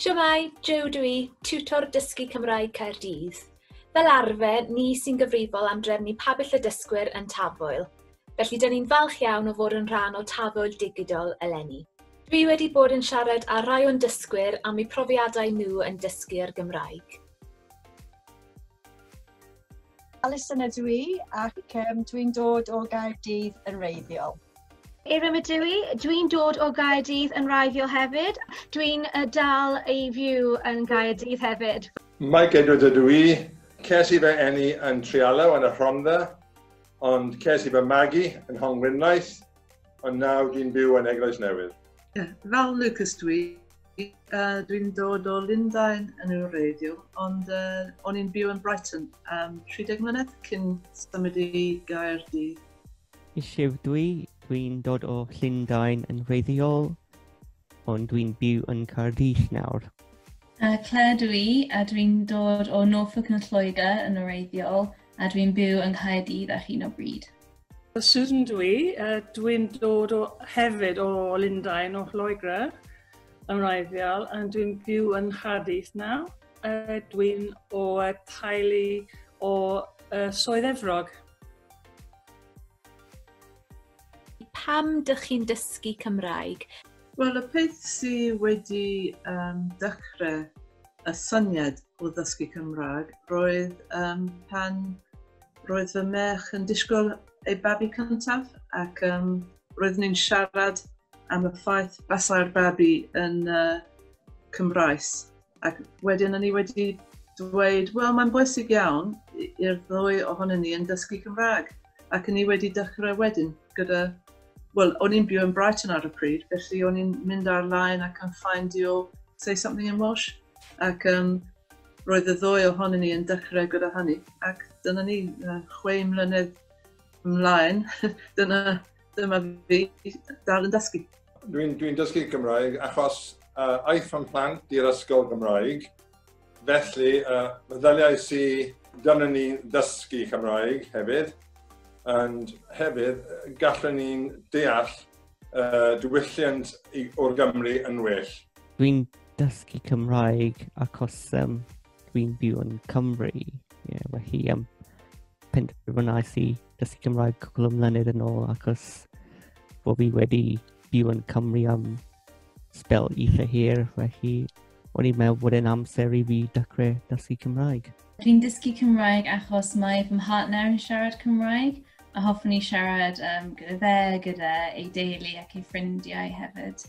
Shwmae, Jo dw i, tiwtor dysgu Cymraeg Caerdydd. Fel arfer, ni sy'n gyfrifol am drefnu pabell y dysgwyr yn Tafwyl. Felly, dyn ni'n falch iawn o fod yn rhan o Tafwyl Digidol eleni. Dwi wedi bod yn siarad â rhai o'n dysgwyr am eu profiadau nhw yn dysgu ar Gymraeg. Alison ydw i ac um, dwi'n dod o Gaerdydd yn reiddiol. Eirym ydw i, dwi'n dod o Gaerdydd yn raifio hefyd. Dwi'n uh, dal ei fyw yn Gaerdydd hefyd. Mike Edwards ydw i. Ces i fy enni yn Trialaw yn y Rhondda, ond ces i fy magu yn Hongwynlaeth, ond nawr dwi'n byw yn Eglwys Newydd. Yeah, fel Lucas dwi, Uh, dwi'n dod o Lundain yn y radio, ond uh, o'n i'n byw yn Brighton am um, 30 mlynedd cyn symud i Gaerdydd. Eisiau dwi, dwi'n dod o Llundain yn reiddiol, ond dwi'n byw yn Caerdydd nawr. Uh, Claire dwi, a dwi'n dod o Norfolk yn Lloegr yn oreiddiol, A dwi'n byw yng Nghaerdydd ar hyn o bryd. Susan dw i. Uh, dwi'n dod o, hefyd o Lundain, o Lloegr yn wreiddiol, a dwi'n byw yn Nghaerdydd nawr. Uh, dwi'n o uh, taelu o uh, Soedd Efrog. Pam dych chi'n dysgu Cymraeg? Wel, y peth sy wedi um, dechrau y syniad o ddysgu Cymraeg roedd um, pan roedd fy merch yn disgwyl ei babi cyntaf ac um, roedd ni'n siarad am y ffaith basau'r babi yn uh, Cymraes. Ac wedyn o'n i wedi dweud, wel mae'n bwysig iawn i'r ddwy ohonyn ni yn dysgu Cymraeg. Ac o'n i wedi dechrau wedyn gyda Wel, o'n i'n byw yn Brighton ar y pryd, felly o'n i'n mynd ar-line ac yn ffaindio Say Something in Welsh. Ac um, roedd y ddwy ohonyn ni yn dechrau gyda hynny. Ac dyna ni, uh, chwe mlynedd ymlaen, dyna, dyma fi dal yn dysgu. Dwi'n dwi dysgu Cymraeg achos uh, aeth o'n plant i'r ysgol Gymraeg Felly, uh, ddaliau si gynnu ni ddysgu Cymraeg hefyd, and hefyd gallwn ni'n deall uh, diwylliant o'r Gymru yn well. Dwi'n dysgu Cymraeg achos um, dwi'n byw yn Cymru. Yeah, felly, um, penderfynais i dysgu Cymraeg cwbl o mlynedd yn ôl achos bod fi wedi byw yn Cymru am spel eitha hir, felly O'n i'n meddwl bod e'n amser i fi dechrau dysgu Cymraeg. Dwi'n dysgu Cymraeg achos mae fy mhartner yn siarad Cymraeg a hoffwn i siarad um, gyda fe, gyda ei deulu ac ei ffrindiau hefyd.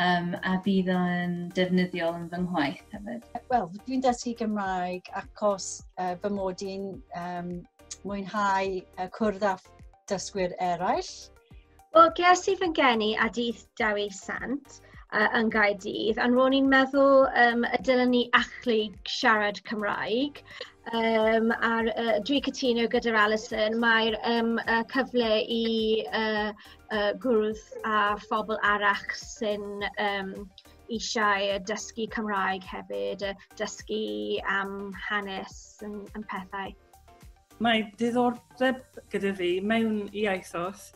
Um, a bydd o'n defnyddiol yn fy ngwaith hefyd. Wel, dwi'n dysgu Gymraeg achos uh, fy mod i'n um, mwynhau uh, cwrdd â dysgwyr eraill Wel, ges i fy ngeni a dydd Dewi Sant uh, yn Gaerdydd, ond ro'n i'n meddwl um, y dylen ni achlu siarad Cymraeg. Um, a'r, uh, dwi cytuno gyda'r Alison, mae'r um, uh, cyfle i uh, uh, gwrdd a phobl arach sy'n um, eisiau dysgu Cymraeg hefyd, dysgu am hanes yn, yn pethau. Mae diddordeb gyda fi mewn iaithoedd.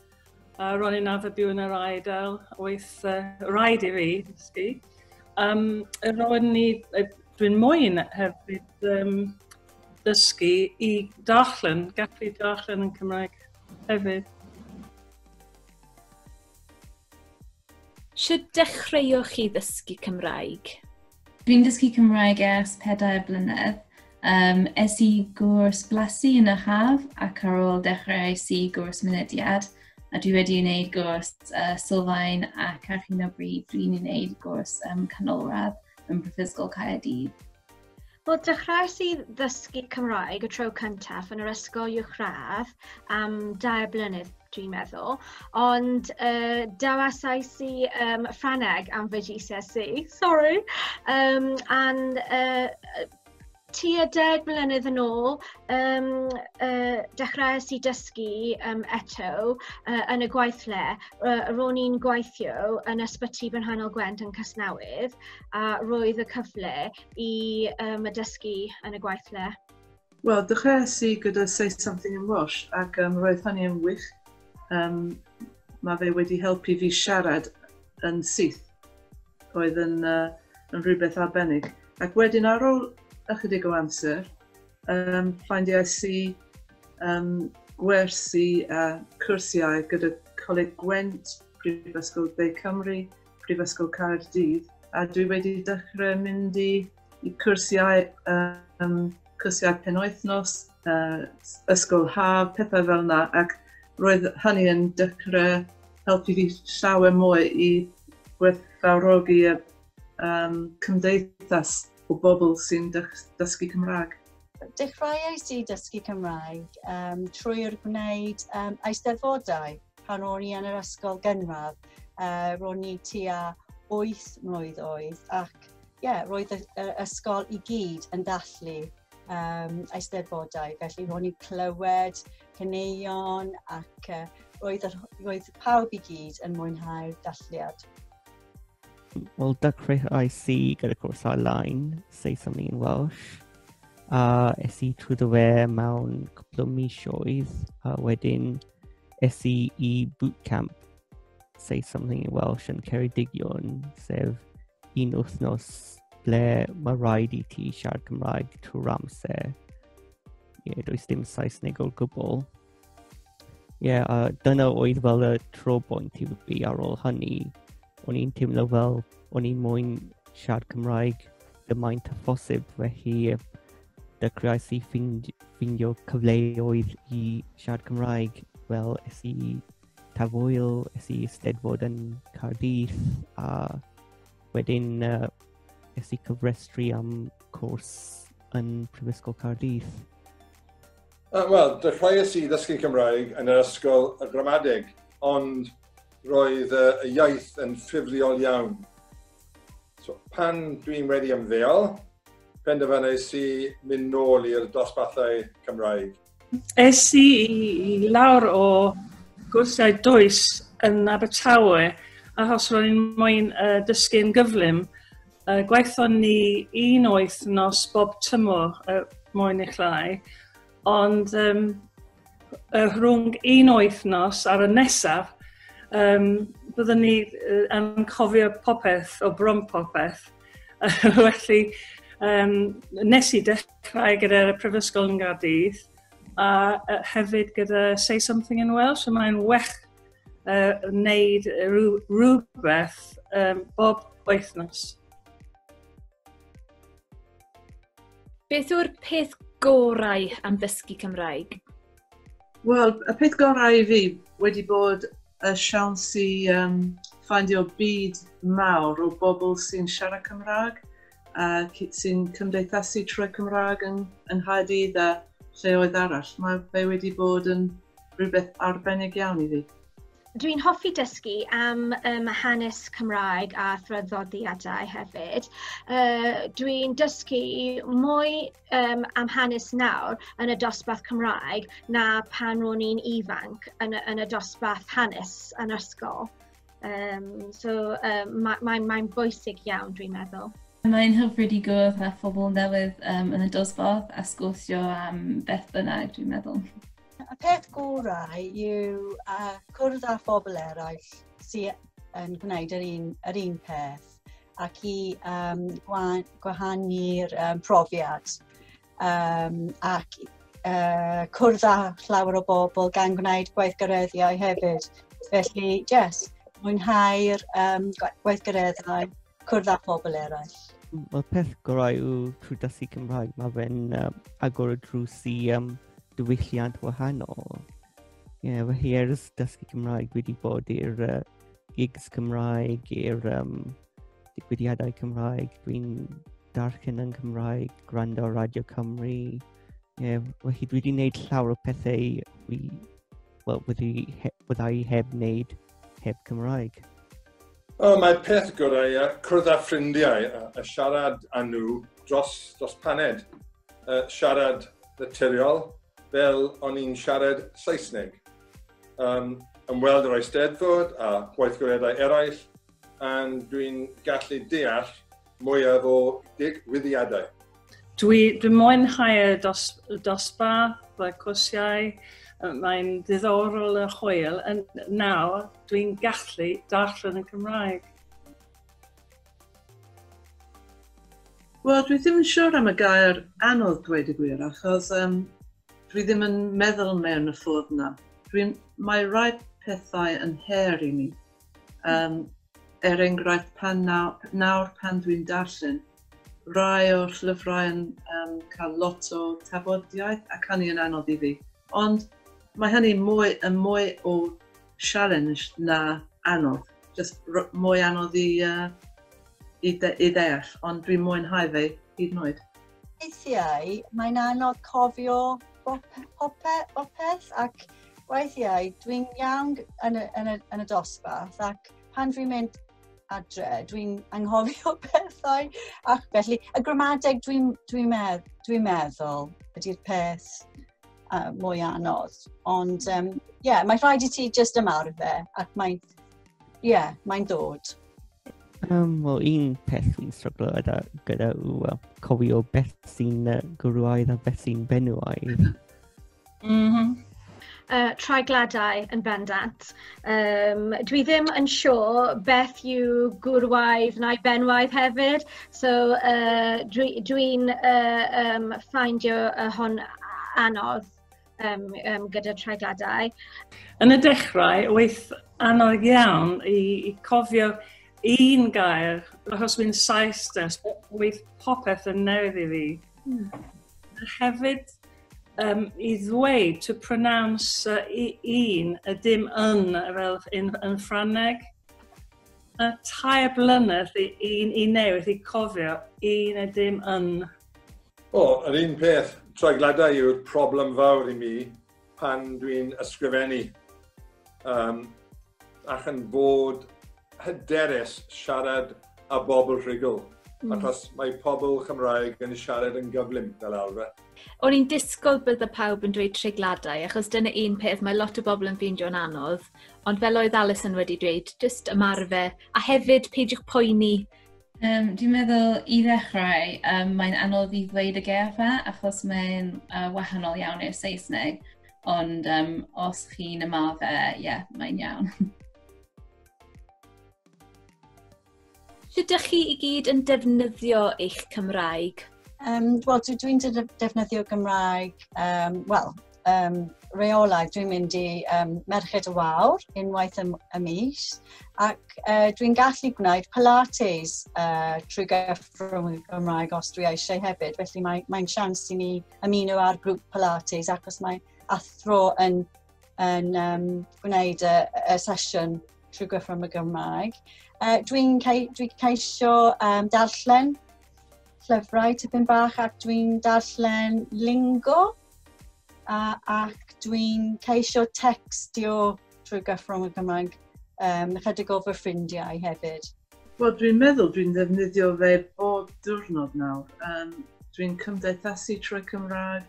Uh, ro'n i'n arfer byw yn yr Aedael, oedd uh, rhaid i fi ddysgu. Um, ro'n ni, dwi'n moyn hefyd um, dysgu i darllen, gallu darllen yn Cymraeg hefyd. Sut dechreuoch chi ddysgu Cymraeg? Dwi'n dysgu Cymraeg ers pedair blynedd. Um, es i gwrs blasu yn y haf ac ar ôl dechrau es i gwrs mynediad a dwi wedi wneud gwrs uh, sylfaen ac ar hyn o bryd dwi'n wneud gwrs um, canolradd yn Prifysgol Caerdydd. Wel, dechrauais i ddysgu Cymraeg y tro cyntaf yn yr ysgol uwchradd am dair blynedd, dwi'n meddwl, ond uh, dawasais i um, Ffraneg am fy GCSE, sorry, um, and uh, tua deg mlynedd yn ôl, um, uh, dechrauais i dysgu um, eto uh, yn y gweithle. Uh, ro'n i'n gweithio yn ysbyty Brynhanol Gwent yn Casnewydd a roedd y cyfle i um, y dysgu yn y gweithle. Wel, dechreuais i gyda Say Something in Welsh ac um, roedd hynny yn wych. Um, mae fe wedi helpu fi siarad yn syth. Oedd yn, uh, yn rhywbeth arbennig. Ac wedyn ar ôl ychydig o amser, um, ffeindiais i um, gwersi a cwrsiau gyda Coleg Gwent, Prifysgol De Cymru, Prifysgol Caerdydd, a dwi wedi dechrau mynd i y cyrsiau, um, cyrsiau penwythnos, uh, ysgol haf, pethau fel yna, ac roedd hynny yn dechrau helpu fi llawer mwy i gwerthfawrogi y um, cymdeithas o bobl sy'n dysgu Cymraeg. Dechreuais i dysgu Cymraeg um, trwy'r gwneud um, eisteddfodau pan o'n i yn yr ysgol gynradd. Uh, ro'n i tua 8 mlynedd oedd ac ie, roedd y, y ysgol i gyd yn dathlu um, eisteddfodau. Felly ro'n i'n clywed cyneuon ac uh, roedd, yr, roedd pawb i gyd yn mwynhau'r dathliad. Wel, dechreuais i gyda cwrs ar-lein, Saeson ni'n Welsh, a es i trwy dy we mewn cwpl o misioedd, a wedyn es i i bootcamp Say Something in Welsh yn Ceredigion, sef un wythnos ble mae rhaid i ti siarad Cymraeg trwy'r amser. Ie, yeah, does dim Saesneg o gwbl. Ie, yeah, a dyna oedd fel y tro bwynt i fi ar ôl hynny. O'n i'n teimlo fel, o'n i'n mwyn siarad Cymraeg y maint a phosib, felly dechreuais i ffindio cyfleoedd i siarad Cymraeg fel es i Tafwyl, es i steddfod yn Caerdydd a wedyn uh, es i cyfrestru am cwrs yn Prifysgol Caerdydd. Uh, Wel, dechreuais i ddysgu Cymraeg yn yr ysgol y gramadeg, ond roedd uh, y iaith yn ffurfiol iawn. So, pan dwi'n wedi ymddeol, penderfynais i mynd nôl i'r dosbarthau Cymraeg. Es i i lawr o gwrsiau does yn Abertawe achos ro'n i'n moyn uh, dysgu'n gyflym. Uh, gwaethon ni un oeth nos bob tymor uh, moyn eich rai, ond um, uh, rhwng un oeth nos ar y nesaf, um, byddwn ni uh, yn cofio popeth o brom popeth. Felly, um, nes i dechrau Cymraeg gyda'r Prifysgol yn Gardydd a hefyd gyda Say Something in Welsh a mae'n wech uh, wneud rhywbeth um, bob wythnos. Beth yw'r peth gorau am ddysgu Cymraeg? Wel, y peth gorau i fi wedi bod y siawns i um, ffindio byd mawr o bobl sy'n siarad Cymraeg ac sy'n cymdeithasu trwy Cymraeg yn, yng Nghaerdydd a lleoedd arall. Mae fe wedi bod yn rhywbeth arbennig iawn i fi. Dwi'n hoffi dysgu am um, hanes Cymraeg a thraddodiadau hefyd. Uh, Dwi'n dysgu mwy um, am hanes nawr yn y dosbarth Cymraeg na pan ro'n i'n ifanc yn y, yn y dosbarth hanes yn ysgol. Um, so um, mae'n mae, mae bwysig iawn, dwi'n meddwl. Mae'n hyfryd i gwrdd â phobl newydd um, yn y dosbarth a sgwrsio am beth bynnag, dwi'n meddwl. Y peth gorau yw uh, cwrdd â phobl eraill sy'n yn gwneud yr un, yr un peth ac i um, gwahanu'r um, profiad. um, ac uh, cwrdd â llawer o bobl gan gwneud gweithgareddiau hefyd. Felly, yes, mwynhau'r um, gweithgareddau, cwrdd â phobl eraill. Mae peth gorau yw trwy dysgu Cymraeg, mae fe'n um, agor y drws i um, diwylliant wahanol. Ie, yeah, fy hi ers dysgu Cymraeg, dwi wedi bod i'r uh, gigs Cymraeg, i'r um, digwyddiadau Cymraeg, dwi'n darllen yn Cymraeg, gwrando Radio Cymru. Yeah, felly dwi wedi gwneud llawer o pethau fi, well, wedi, he, wedi heb wneud heb Cymraeg. O, mae peth gorau ia, cwrdd â ffrindiau a, a siarad â nhw dros, dros paned. Uh, siarad naturiol fel o'n i'n siarad Saesneg. Um, ymweld yr Eisteddfod a gweithgareddau eraill And dwi'n gallu deall mwyaf o digwyddiadau. Dwi, dwi mwynhau'r dos, dosba, y cwrsiau, mae'n ddiddorol a hwyl, yn nawr dwi'n gallu darllen y Cymraeg. Wel, dwi ddim yn siŵr am y gair anodd dweud y gwir, achos um, dwi ddim yn meddwl mewn y ffordd na. Dwi'n, mae rhai pethau yn her i mi. Um, er enghraifft, pan nawr, nawr pan dwi'n darllen, rai o'r llyfrau yn um, cael lot o tafodiaeth ac hynny yn anodd i fi. Ond mae hynny mwy, yn mwy o challenge na anodd. Just mwy anodd i, uh, i, de, i ddeall, ond dwi'n mwynhau fe hyd yn oed. Weithiau mae'n anodd cofio popeth ac weithiau dwi'n iawn yn y dosbarth ac pan dwi'n mynd adre dwi'n anghofio pethau ac felly y gramadeg dwi'n meddwl ydy'r peth mwy anodd ond ie mae'n rhaid i ti jyst ymarfer ac mae'n Ie, yeah, mae'n dod. Um, Wel, un peth fi'n stryglo gyda, gyda yw uh, cofio beth sy'n uh, gwrwaidd a beth sy'n benywaidd. mm -hmm. uh, traigladau yn bendant. Um, dwi ddim yn siŵr beth yw gwrwaidd neu benwaidd hefyd, so uh, dwi'n dwi, dwi uh, um, ffindio uh, hon anodd. um, um, gyda treigliadau. Yn y dechrau, oedd anodd iawn i, i cofio un gair, achos fi'n saes des, oedd popeth yn newydd i fi. Mm. Hefyd, um, i ddweud, to pronounce uh, un, y dim yn, fel yn, yn Ffrangeg. Mae tair blynedd i, i, i newid, i cofio, i na dim yn. O, yr un peth, tragladau yw'r problem fawr i mi pan dwi'n ysgrifennu. Um, ac yn bod hyderus siarad a bobl rhugl, mm. achos mae pobl Cymraeg yn siarad yn gyflym fel arfer. O'n i'n disgwyl bydde pawb yn dweud treigladau, achos dyna un peth mae lot o bobl yn ffeindio'n anodd, ond fel oedd Alison wedi dweud, jyst ymarfer, a hefyd peidiwch poeni. Um, dwi'n meddwl i ddechrau, um, mae'n anodd i ddweud y gefa, achos mae'n uh, wahanol iawn i'r Saesneg, ond um, os chi'n ymarfer, ie, yeah, mae'n iawn. Sut dych chi i gyd yn defnyddio eich Cymraeg? Um, Wel, dwi'n dwi defnyddio Gymraeg, um, wel, um, reolau. Dwi'n mynd i um, Merched y Wawr unwaith y, y mis ac uh, dwi'n gallu gwneud Pilates uh, trwy gyffrwng y Gymraeg os dwi eisiau hefyd. Felly mae'n mae sians i mi ymuno â'r grŵp Pilates ac os mae athro yn yn um, gwneud y, y sesiwn trwy gyfrwng y Gymraeg. Uh, dwi'n cei, dwi ceisio um, darllen llyfrau tipyn bach ac dwi'n darllen lingo uh, ac dwi'n ceisio textio trwy gyfrwng y Gymraeg um, chydig o fy ffrindiau hefyd. Wel, dwi'n meddwl dwi'n ddefnyddio fe bob diwrnod nawr. Um, dwi'n cymdeithasu trwy Cymraeg,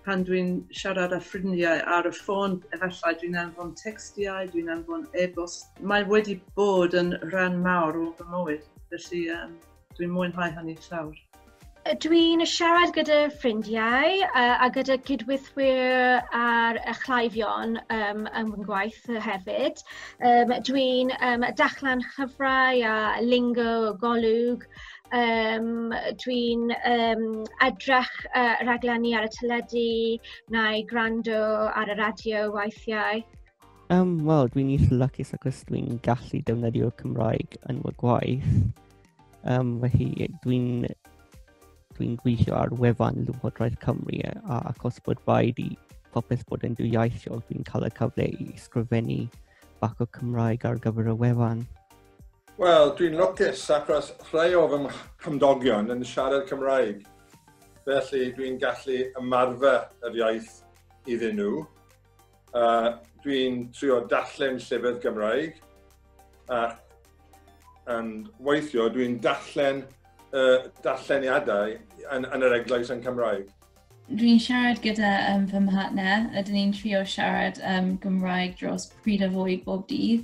Pan dwi'n siarad â ffrindiau ar y ffôn, efallai dwi'n anfon tecstiau, dwi'n anfon e-bost. Mae wedi bod yn rhan mawr o fy mywyd, felly um, dwi'n mwynhau hynny llawr. Dwi'n siarad gyda ffrindiau uh, a gyda cydweithwyr ar y chlaifion um, yn fy ngwaith hefyd. Um, Dwi'n um, dachlan llyfrau a lingo, golwg, um, dwi'n um, edrych uh, raglenni ar y teledu neu gwrando ar y radio weithiau. Um, Wel, dwi'n eitha lwcus ac os dwi'n gallu defnyddio Cymraeg yn fy gwaith. Um, felly, dwi'n dwi'n gweithio ar wefan Llywodraeth Cymru a ac os bod rhaid i popeth bod yn dwyieithog, dwi'n cael y cyfle i sgrifennu bach o Cymraeg ar gyfer y wefan. Wel, dwi'n lwcus achos rhai o fy nghymdogion yn siarad Cymraeg, felly dwi'n gallu ymarfer yr iaith iddyn nhw. Uh, dwi'n trio darllen llyfr Gymraeg, a and weithio dwi'n darllen uh, darlleniadau yn, yn yr eglwys yn Cymraeg. Dwi'n siarad gyda um, fy mhartner, ydyn ni'n trio siarad um, Gymraeg dros pryd a fwy bob dydd,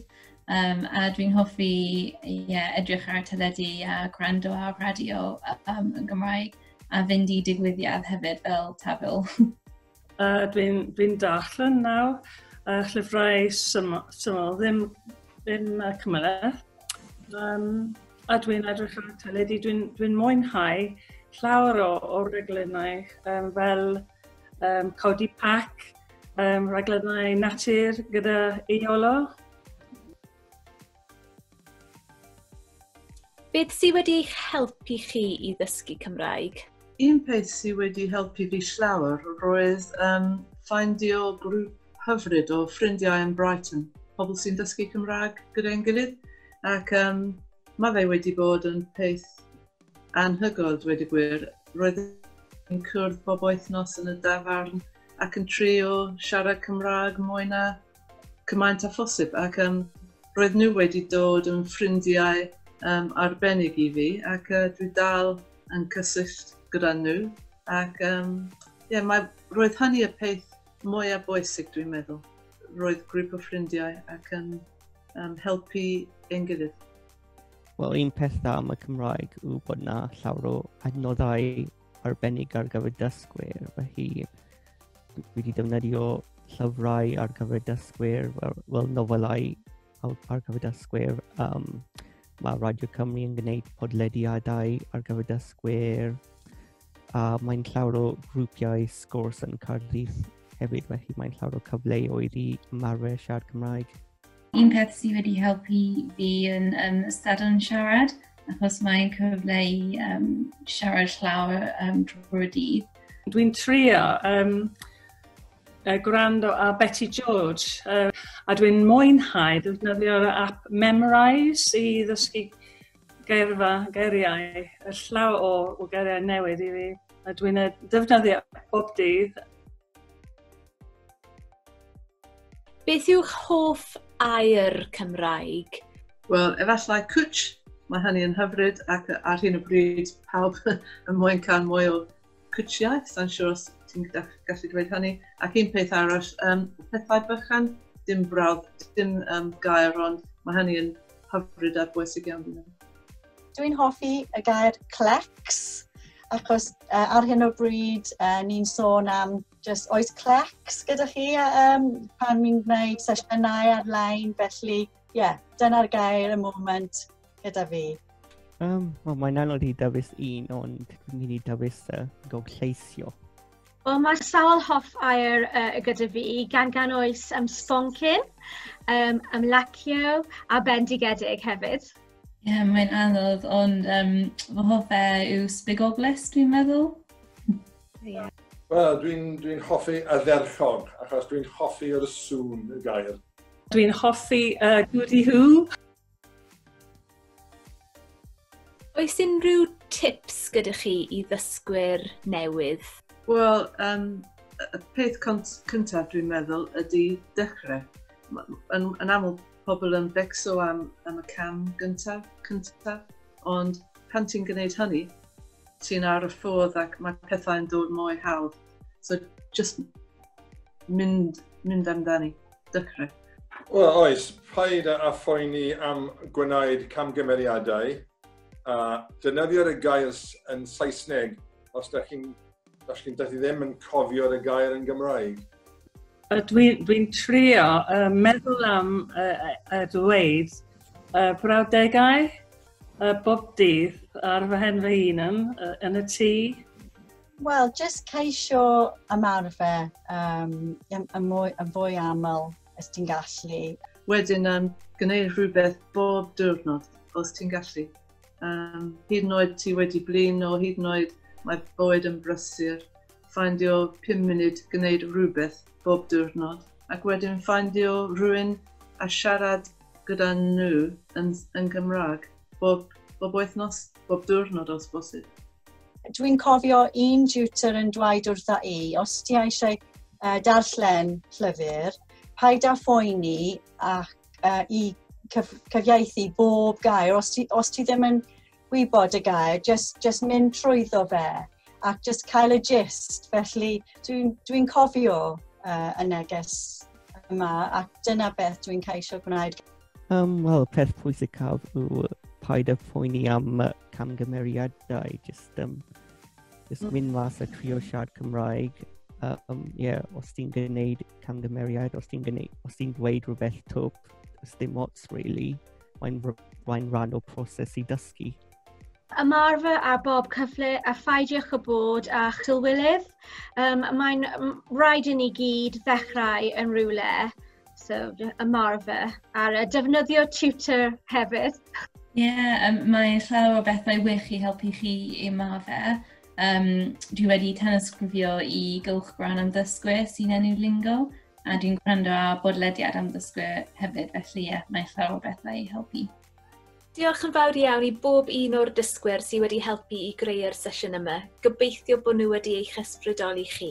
um, a dwi'n hoffi yeah, edrych ar y teledu a gwrando ar radio um, yn Gymraeg, a fynd i digwyddiad hefyd fel tafel. uh, dwi'n dwi darllen nawr uh, llyfrau syml, syml ddim, ddim uh, cymhleth. Um, a dwi'n edrych ar y teledu, dwi'n dwi mwynhau llawer o, o reglynau um, fel um, codi pac, um, reglynau natur gyda Iolo. Beth sydd wedi eich helpu chi i ddysgu Cymraeg? Un peth sy wedi helpu fi llawer roedd yn ffaindio grŵp hyfryd o ffrindiau yn Brighton, pobl sy'n dysgu Cymraeg gyda ein gilydd, ac um, mae fe wedi bod yn peth anhygoel, dweud y gwir. Roedd yn cwrdd bob wythnos yn y dafarn ac yn trio siarad Cymraeg mwy na cymaint â phosib ac um, roedd nhw wedi dod yn ffrindiau um, arbennig i fi ac uh, dwi dal yn cysylltu gyda nhw ac um, yeah, mae, roedd hynny y peth mwyaf bwysig dwi'n meddwl. Roedd grŵp o ffrindiau ac yn um, helpu ein gilydd. Wel, un peth am y Cymraeg yw bod na llawer o adnoddau arbennig ar gyfer dysgwyr, felly dwi wedi defnyddio llyfrau ar gyfer dysgwyr, fel, fel nofelau ar gyfer dysgwyr. Um, mae Radio Cymru yn gwneud podlediadau ar gyfer dysgwyr, a mae'n llawer o grwpiau sgwrs yn Cardydd hefyd, felly mae'n llawer o cyfleoedd i ymarfer siarad Cymraeg. Un peth sydd wedi helpu fi yn um, ystadon siarad, achos mae'n cyfle i um, siarad llawer um, drwy'r dydd. Dwi'n trio um, uh, gwrando a Betty George, uh, a dwi'n mwynhau ddefnyddio'r app Memrise i ddysgu geirfa, geiriau, y llaw o, o geiriau newydd i fi. A dwi'n e, defnyddio bob dydd Beth yw'ch hoff air Cymraeg? Wel, efallai cwtsh, mae hynny yn hyfryd ac ar hyn o bryd pawb yn mwyn cael mwy o cwtshiau, sa'n siŵr os ti'n gallu dweud hynny. Ac un peth arall, um, pethau bychan, dim brawd, dim um, gair, ond mae hynny yn hyfryd a bwysig iawn i ni. Dwi'n hoffi y gair clecs, achos uh, ar hyn o bryd uh, ni'n sôn am jyst oes clecs gyda chi um, pan mi'n gwneud sesiynau ar-lein, felly ie, yeah, dyna'r gair y moment gyda fi. Um, well, mae'n anodd i dewis un, ond dwi'n mynd i dewis uh, gog lleisio. Wel, mae sawl hoff air uh, gyda fi, gan gan oes am um, sponcyn, um, am lacio a bendigedig hefyd. Ie, yeah, mae'n anodd, ond um, fy hoff e yw spigoglus, dwi'n meddwl. Yeah. Wel, dwi'n dwi hoffi ardderchog, achos dwi'n hoffi yr sŵn y gair. Dwi'n hoffi uh, Goody Who. Oes unrhyw tips gyda chi i ddysgwyr newydd? Wel, um, y peth cyntaf dwi'n meddwl ydy dechrau. Yn, yn aml pobl yn becso am, am y cam gyntaf, cyntaf, ond pan ti'n gwneud hynny, ti'n ar y ffordd ac mae pethau'n dod mwy hawdd. So, just mynd, mynd amdani, dychrau. Wel, oes, paid a phoeni am gwneud camgymeriadau. A dynyddio y gair yn Saesneg os da chi'n Dach chi'n dydw i ddim yn cofio'r y gair yn Gymraeg. Dwi'n dwi trio uh, meddwl am uh, uh, ddweud uh, brawdegau uh, bob dydd ar fy hen fy hun yn, uh, yn y tŷ. Wel, jyst ceisio ymarfer um, yn, yn, mwy, yn fwy aml os ti'n gallu. Wedyn, um, gwneud rhywbeth bob diwrnod os ti'n gallu. Um, hyd yn oed ti wedi blin o hyd yn oed mae bywyd yn brysur. Ffaindio 5 munud gwneud rhywbeth bob diwrnod ac wedyn ffaindio rhywun a siarad gyda nhw yn, yn Gymraeg bob, bob wythnos, bob diwrnod os bosib. Dwi'n cofio un tutor yn dweud wrtha i, os ti eisiau uh, darllen llyfr, paid â phoeni ac uh, i cyf cyfieithu bob gair. Os ti, os ti ddim yn gwybod y gair, just, just mynd trwyddo fe ac just cael y gist. Felly dwi'n dwi, dwi cofio uh, y neges yma ac dyna beth dwi'n ceisio gwneud. Um, Wel, peth pwysicaf yw paid y phoeni am camgymeriadau, just um, Just mynd mas a trio siarad Cymraeg. Um, yeah, os ti'n gwneud camgymeriad, os ti'n gwneud, os ti'n dweud rhywbeth twp, os dim ots, really, mae'n mae'n rhan o proses i dysgu. Ymarfer a bob cyfle a phaidiwch o bod a chylwylydd. Um, mae'n rhaid i ni gyd ddechrau yn rhywle. so ymarfer, ar y defnyddio tutor hefyd. Ie, yeah, um, mae llawer o bethau wych i helpu chi i ymarfer. Um, dwi wedi tanysgrifio i gylch gwan am ddysgwyr sy'n enw lingo, a dwi'n gwrando ar bodlediad am ddysgwyr hefyd, felly ie, yeah, mae llawer o bethau i helpu. Diolch yn fawr iawn i bob un o'r dysgwyr sydd wedi helpu i greu'r sesiwn yma. Gobeithio bod nhw wedi eich ysbrydoli chi.